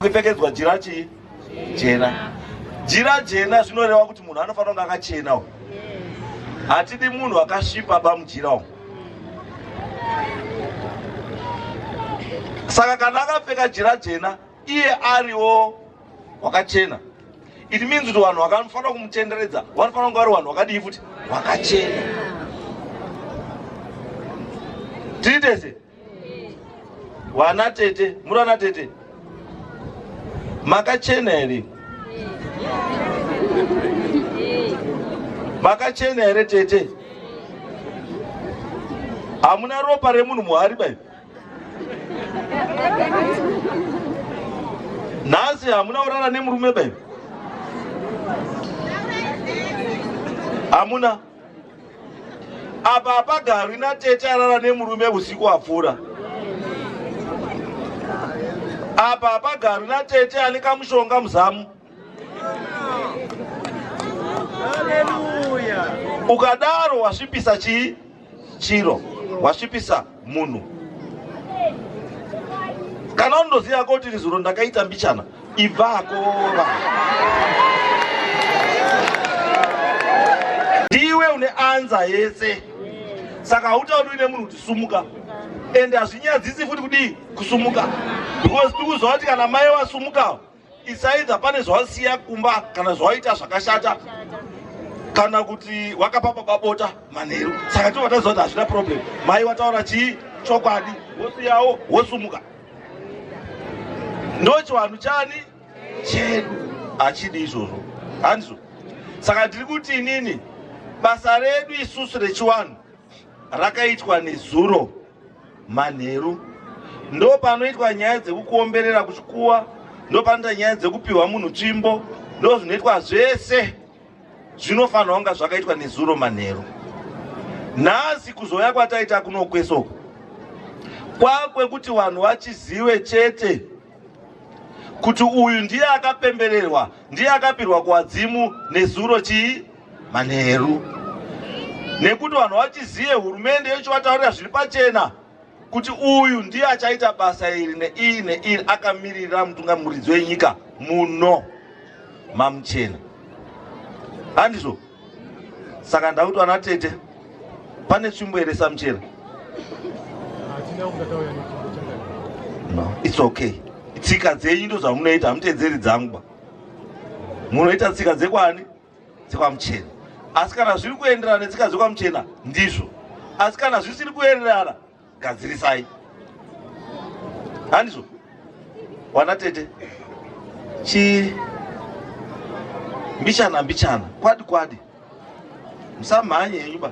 kupfekedzwa jira chii jena jira jena zvinoreva kuti munhu anofanira kunge akachena u hatidi munhu akasvipa ba mujira u saka kana akapfeka jira jena iye ariwo wakachena it means kuti vanhu vakafanira kumutenderedza vanofanira kunge vari vanhu vakadii futi vakachena tiri tese Wana tete, muri wana tete. Makachena here? Makachena here tete? Hamuna ropa remunhu muhari bai. Nhasi hamuna urara nemurume bai. Hamuna. apa hapagarwi natete arara nemurume usiku wapfuura apa hapagarwi natete ane kamushonga muzamu ukadaro wasvipisa chii chiro wasvipisa munhu kana unoziva ko tiri zuro ndakaita mbichana ibvako ndiwe une anza yese saka hautauri uine munhu kuti sumuka ende hazvinyadzisi futi kudii kusumuka because tikuzova kuti kana mai wasumukawo It's either pane zvawasiya kumba kana zvawaita zvakashata kana kuti wakapa baba bota manheru saka tobva taziva kuti hazvina problem mai wataura chii chokwadi wosiyawo wosumuka ndo chivanhu chani chedu hachidi izvozvo handizvo saka ndiri kuti inini basa redu isusu rechiwanhu rakaitwa nezuro manheru ndopanoitwa nyaya dzekukuomberera kuchikuwa ndopanoita nyaya dzekupiwa munhu tsvimbo ndozvinoitwa zvese zvinofanirwa kunga zvakaitwa nezuro manheru nhasi kuzouya kwataita kunokwesoko kwakwekuti vanhu vachizive chete kuti uyu ndiye akapembererwa ndiye akapirwa kuwadzimu nezuro chii manheru nekuti vanhu vachizive hurumende yochivataurira zviri pachena kuti uyu ndiye achaita basa iri neiri neiri akamiririra mutungamuridzi wenyika muno mamuchena handizvo saka ndakuti vana tete pane tsvimbo here samuchena no its okay tsika dzenyu ndo zvamunoita hamuteedzeri dzangu ba munoita tsika dzekwani dzekwamuchena asi kana zviri kuenderana netsika dzekwamuchena ndizvo asi kana zvisiri kuenderana gadzirisai handizvo wana tete chi mbichana mbichana kwadi kwadi musamhanye yenyuba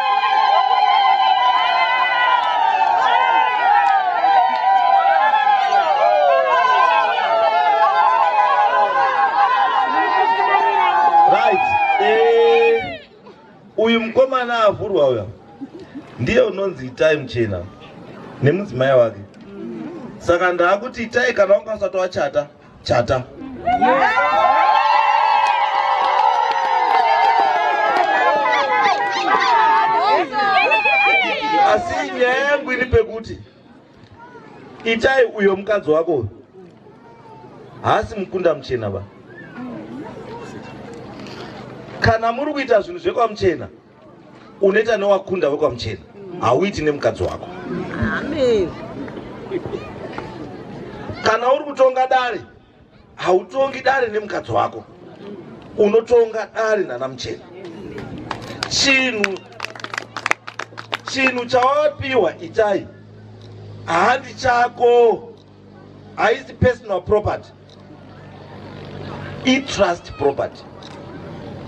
mwana avhurwa uya ndiye unonzi itai muchena nemudzimai wake saka ndaakuti itai kana wanga usati wachata chata asi nyaya yangu iri pekuti itai uyo mukadzi wako uyo haasi mukunda muchena va kana muri kuita zvinhu zvekwamuchena Unoita newakunda wekwaMuchena, hauiti nemukadzi wako. Amen. Kana uri kutonga dare, hautongi dare nemukadzi wako, unotonga dare nana Muchena. Chinhu chinhu chawapiwa itai handi chako. haisi personal property itrust property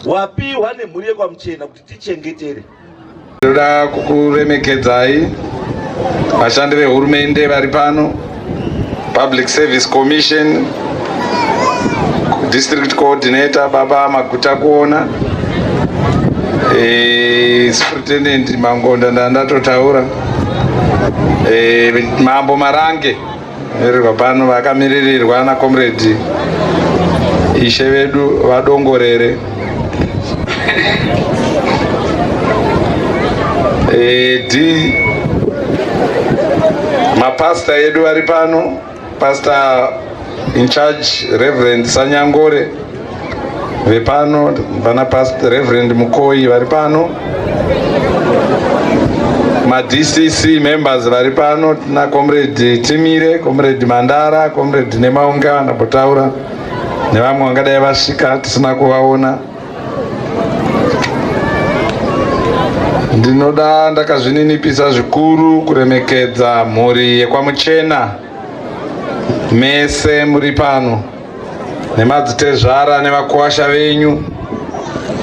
wapiwa nemhuri yekwamuchena kuti tichengetere tinoda kukuremekedzai vashandi vehurumende vari pano public service commission district coordinator baba maguta kuona e, superintendent mangonda ndandatotaura e, mambo marange rirwa pano vakamiririrwa na comrade ishe vedu vadongorere e, d mapasta edu vari pano Pastor in charge Reverend Sanyangore vepano vana Pastor Reverend Mukoyi vari pano madcc members vari pano tina comrade timire comrade mandara comrade nemaunga vanapotaura nevamwe vangadai vasvika tisina kuvaona Ndinoda ndakazvininipisa zvikuru kuremekedza mhuri yekwaMuchena mese muri pano nemadzitezvara nevakuwasha venyu.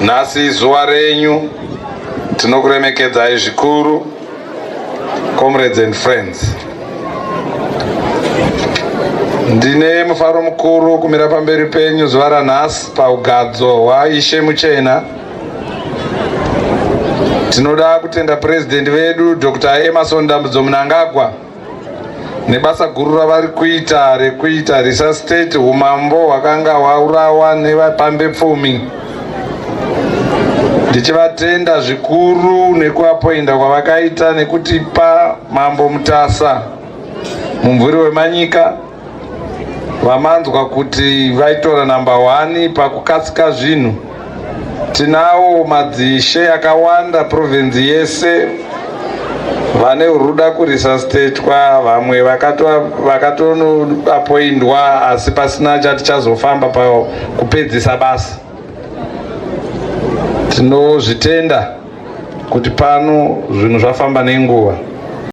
Nhasi izuva renyu, tinokuremekedzai zvikuru. Comrades and friends. Ndine mufaro mukuru kumira pamberi penyu zuva ranhasi paugadzo hwaIshe Muchena. Tinoda kutenda President vedu Dr. Emerson Dambudzo Mnangagwa nebasa guru ravari kuita rekuita risa state umambo hwakanga hwaurawa nevapambe pfumi ndichivatenda zvikuru nekuapoinda kwavakaita nekutipa mambo mutasa mumvuri wemanyika vamanzwa kuti vaitora number one pakukasika zvinhu tinawo madzishe akawanda province yese vane ruda kurisa statwa vamwe vakatonoapoindwa asi pasina chati chazofamba pakupedzisa basa tinozvitenda kuti pano zvinhu zvafamba nenguva